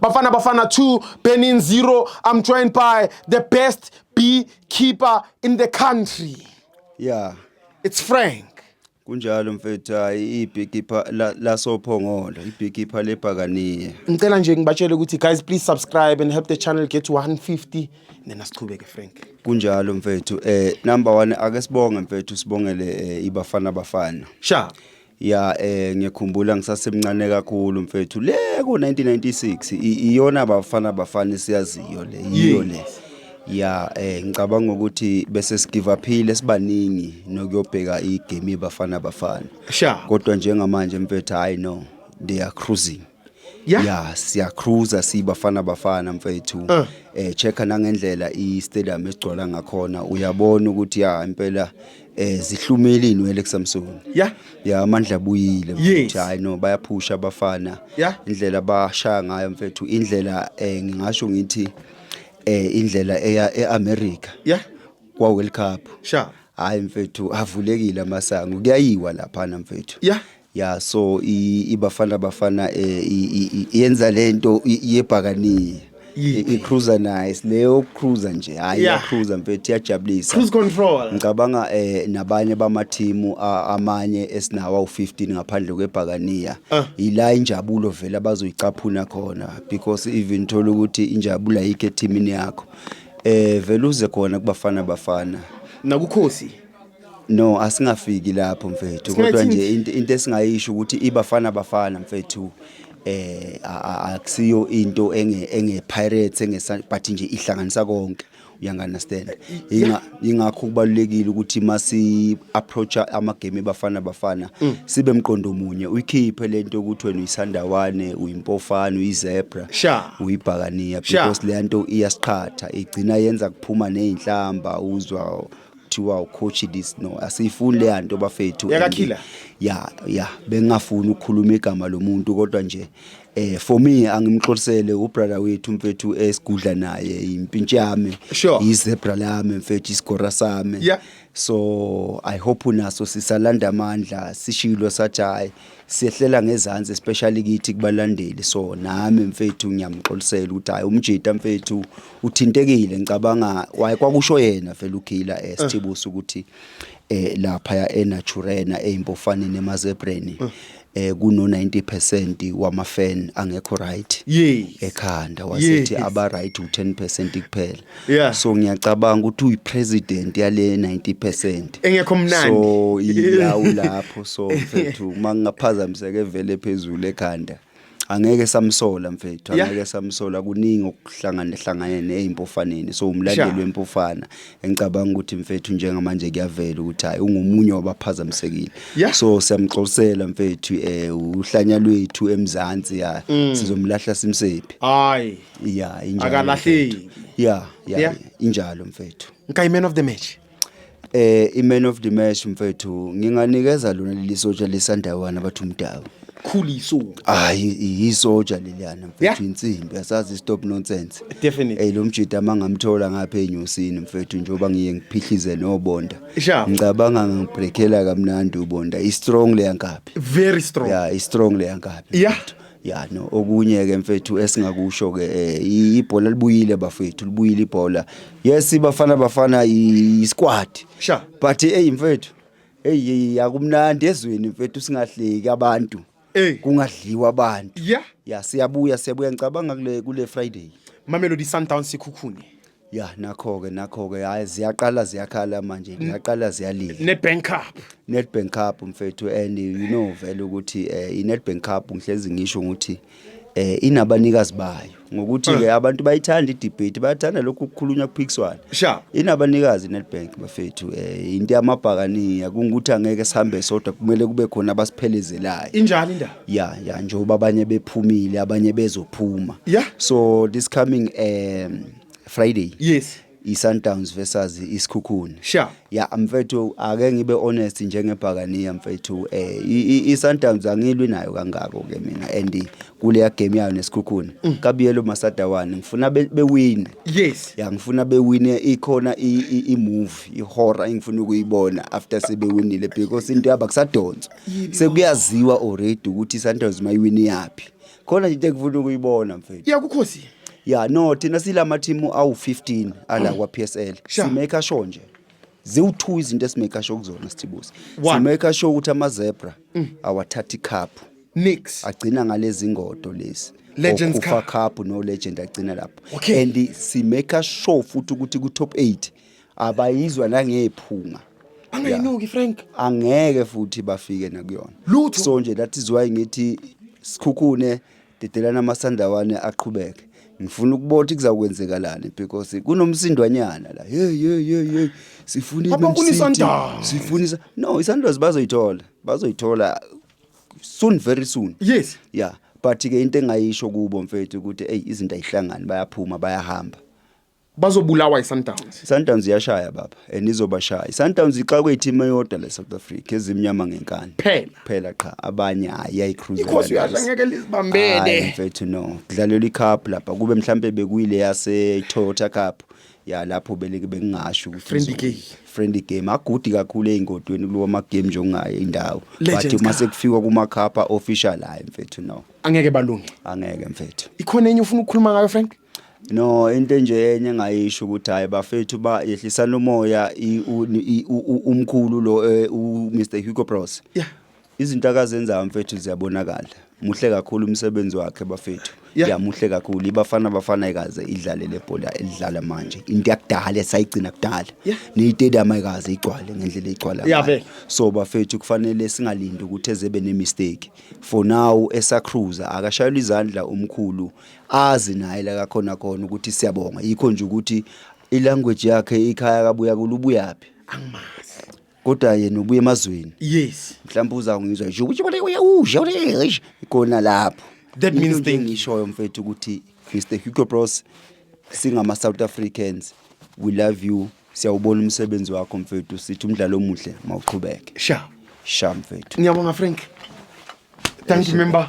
Bafana Bafana 2, Benin 0. I'm joined by the best beekeeper in the country. Yeah. It's Frank. Kunjalo mfethu hayi ibhikipa la sophongolo ibhikipa lebhakaniye. Ngicela nje ngibatshele ukuthi guys please subscribe and help the channel get to 150 nena siqhubeke Frank. Kunjalo mfethu eh number 1 ake sibonge mfethu sibongele eh, ibafana bafana. Sha. ya eh ngiyakhumbula ngisasemncane kakhulu mfethu le ku 1996 i- iyona bafana bafana siyaziyo le yiyo le ya eh ngicabanga ukuthi bese sigive uphile sibaningi nokuyobheka igame bafana bafana Sha. kodwa njengamanje mfethu hayi no they are cruising Yeah. ya siyacruiser sibafana bafana mfethu Uh. eh checka nangendlela i-stadium esigcwala ngakhona uyabona ukuthi ya impela eh zihlumile inwele kuSamsung Yeah. ya amandla abuyile Yes. mfethu hayi no bayaphusha abafana Yeah. indlela bashaya ngayo mfethu indlela eh ngingasho ngithi eh indlela eya eAmerica Yeah. kwa World Cup Sha. hayi mfethu avulekile amasango kuyayiwa lapha na mfethu Yeah. Yeah so iBafana Bafana eh, yenza lento yebhakaniya. I cruiser nice leyo cruiser nje hayi ya cruiser mfethu iyajabulisa. Cruise control. Ngicabanga eh nabanye bamathimu amanye esinawa u15 ngaphandle kwebhakaniya. Ah. Ila injabulo vele abazoyicaphuna khona because even thola ukuthi injabula yikhe teamini yakho. Eh vele uze khona kubafana bafana. Nakukhosi. No asingafiki lapho mfethu kodwa nje into into esingayisho ukuthi ibafana bafana mfethu eh a- a- akusiyo into enge enge pirates enge Sun- but nje ihlanganisa konke uyanganderstand inga ingakho kubalulekile ukuthi masi approach ama game ebafana bafana sibe mqondo munye uyikhiphe lento ukuthi wena uyisandawane uyimpofana uyizebra Sha. uyibhakaniya Sha. because le nto iyasiqhatha igcina yenza kuphuma nezinhlamba uzwa kuthiwa ucoach this no asiyifuni leya nto bafethu yakakhila ya ya bengingafuni ukukhuluma igama lomuntu kodwa nje eh for me angimxolisele ubrother wethu mfethu esigudla naye impintshi yami sure. izebra lami mfethu isigora sami yeah. so i hope unaso sisalanda amandla sishilo sathi hayi siyehlela ngezansi especially kithi kubalandeli so nami mfethu ngiyamxolisela ukuthi hayi umjita mfethu uthintekile ngicabanga waye kwakusho yena vele ukhila esithibusa eh, ukuthi eh lapha ya enaturena eimpofaneni emazebreni eh. eh kuno 90% wama fan angekho right ekhanda wasethi aba right u10% kuphela yeah. so ngiyacabanga ukuthi uyipresident yale 90% engekho mnandi so iyawu lapho so mfethu uma ngingaphazamiseke vele phezulu ekhanda angeke samsola mfethu angeke samsola kuningi okuhlangana hlangane nezimpofaneni so umlandeli wempofana engicabanga ukuthi mfethu njengamanje kuyavela ukuthi hayi ungomunye wabaphazamisekile so siyamxolisela mfethu eh uhlanya lwethu emzansi ya mm. sizomlahla simsephi hayi ya injalo Akalahleki. mfethu. ya ya Yeah. injalo mfethu Nka i-man of the match. eh i-man of the match mfethu nginganikeza lona leli sotsha lesandawana bathi umdawu Khuliso. hayi yisotsha leliyana Yeah. mfethu insimbi asazi stop nonsense Definitely. eyi lo mjida ama ngamthola ngapha enyusini mfethu njengoba ngiye ngiphihlize nobonda Sure. ngicabanga ngangibrekhela kamnandi ubonda i-strong leyankabi Very strong. ya i-strong leyankabi Yeah. ya no okunye ke mfethu esingakusho ke eh, ibhola libuyile bafethu libuyile ibhola yes ibafana bafana isquad sha but hey mfethu hey akumnandi ezweni mfethu singahleki abantu hey kungadliwa abantu yeah ya siyabuya siyabuya ngicabanga kule kule friday mamelodi sundowns sikhukhune ya nakho-ke nakho-ke hhayi ziyaqala ziyakhala manje ziyaqala ziyalila ne-bank cup nedbank cup mfethu and you know vele ukuthi um i-nedbank cup ngihlezi ngisho ukuthi um inabanikazi bayo ngokuthi-ke abantu bayithanda idebate bayathanda lokhu kukhulunywa kuphikiswana Sharp. inabanikazi i-nedbank bafethu um into yamabhakaniya kungukuthi angeke sihambe sodwa kumele kube khona abasiphelezelayo injani indaba ya ya njengoba abanye bephumile abanye bezophuma Yeah. so this coming um friday Yes. i-sundowns versus isikhukhuni Sure. ya mfethu ake ngibe honest njengebhakaniya mfethu eh i- i- i-sundowns angilwi nayo kangako ke mina and kuleya game yayo nesikhukhuni kabiyelo masadawane ngifuna be- bewine Yes. ya ngifuna bewine ikhona i- i- i-move i-horror engifuna ukuyibona after sebewinile because into yabo akusadonswa sekuyaziwa already ukuthi iSundowns mayiwini yaphi khona nje into engifuna ukuyibona mfethu yakukhosi ya no thina silama team awu-15 ala kwa-psl Sha. simake sure nje ziwu-two izinto esimake sure kuzona sithibusi One. simake sure ukuthi amazebra awathatha ikhaphu nix agcina ngalezi ngodo lezi Legends Okufa Cup. cup no legend agcina lapho Okay. and simake sure futhi ukuthi ku-top 8 abayizwa nangephunga angayinuki Frank angeke futhi bafike nakuyona lutho so nje that is why ngithi sikhukhune dedelana amasandawane aqhubeke ngifuna ukubona ukuthi kuzakwenzekalani because kunomsindwanyana la hey hey hey hey sifuna ibe msindwa sifuna isa no isandoz bazoyithola bazoyithola soon very soon yes yeah but ke into engayisho kubo mfethu ukuthi hey izinto ayihlangani bayaphuma bayahamba bazobulawa iSundowns. Sundowns iyashaya baba and izobashaya. Sundowns ixakwe i-team eyodwa le South Africa ezimnyama ngenkani. Phela. Phela qha abanye hayi ayicruise. Ikhosi uyasha ngeke lizibambele. Mfethu no. Kudlalelwa iCup lapha kube mhlambe bekuyile yase Toyota Cup. ya lapho belike bengingasho ukuthi friendly game friendly game agudi kakhulu eingodweni kulowa ma game nje ongaye indawo but uma sekufikwa kuma khapha official hayi mfethu no angeke balunge angeke mfethu ikhona enye ufuna ukukhuluma ngayo frank No into enje enye engayisho ukuthi hayi bafethu ba yehlisani umoya i- u- i- u- u- umkhulu lo eh, u Mr Hugo Bros. Yeah. Izinto akazenzayo mfethu ziyabonakala. Muhle kakhulu umsebenzi wakhe bafethu. Yeah. Ya muhle kakhulu. Ibafana bafana ikaze idlale lebhola elidlala manje. Into yakudala esayigcina kudala. Yeah. Neyitedium ayikaze igcwale ngendlela igcwala. Yeah, ngayo. vele. So bafethu kufanele singalindi ukuthi ezebe ne mistake. For now esacruza akashayela izandla umkhulu azi naye la kakhona khona ukuthi siyabonga yikho nje ukuthi ilanguage yakhe ikhaya kabuya kulubuyaphi angimazi kodwa yena ubuye emazweni yes mhlawumbe uzangizwa nje ukuthi bona uyawusha ulesh khona lapho That Into means nje they- engishoyo mfethu ukuthi Mr Hugo Bros singama South Africans we love you Siyawubona umsebenzi wakho mfethu, sithi umdlalo omuhle mawuqhubeke. Sha. Sha mfethu. Ngiyabonga Frank. Thank you member.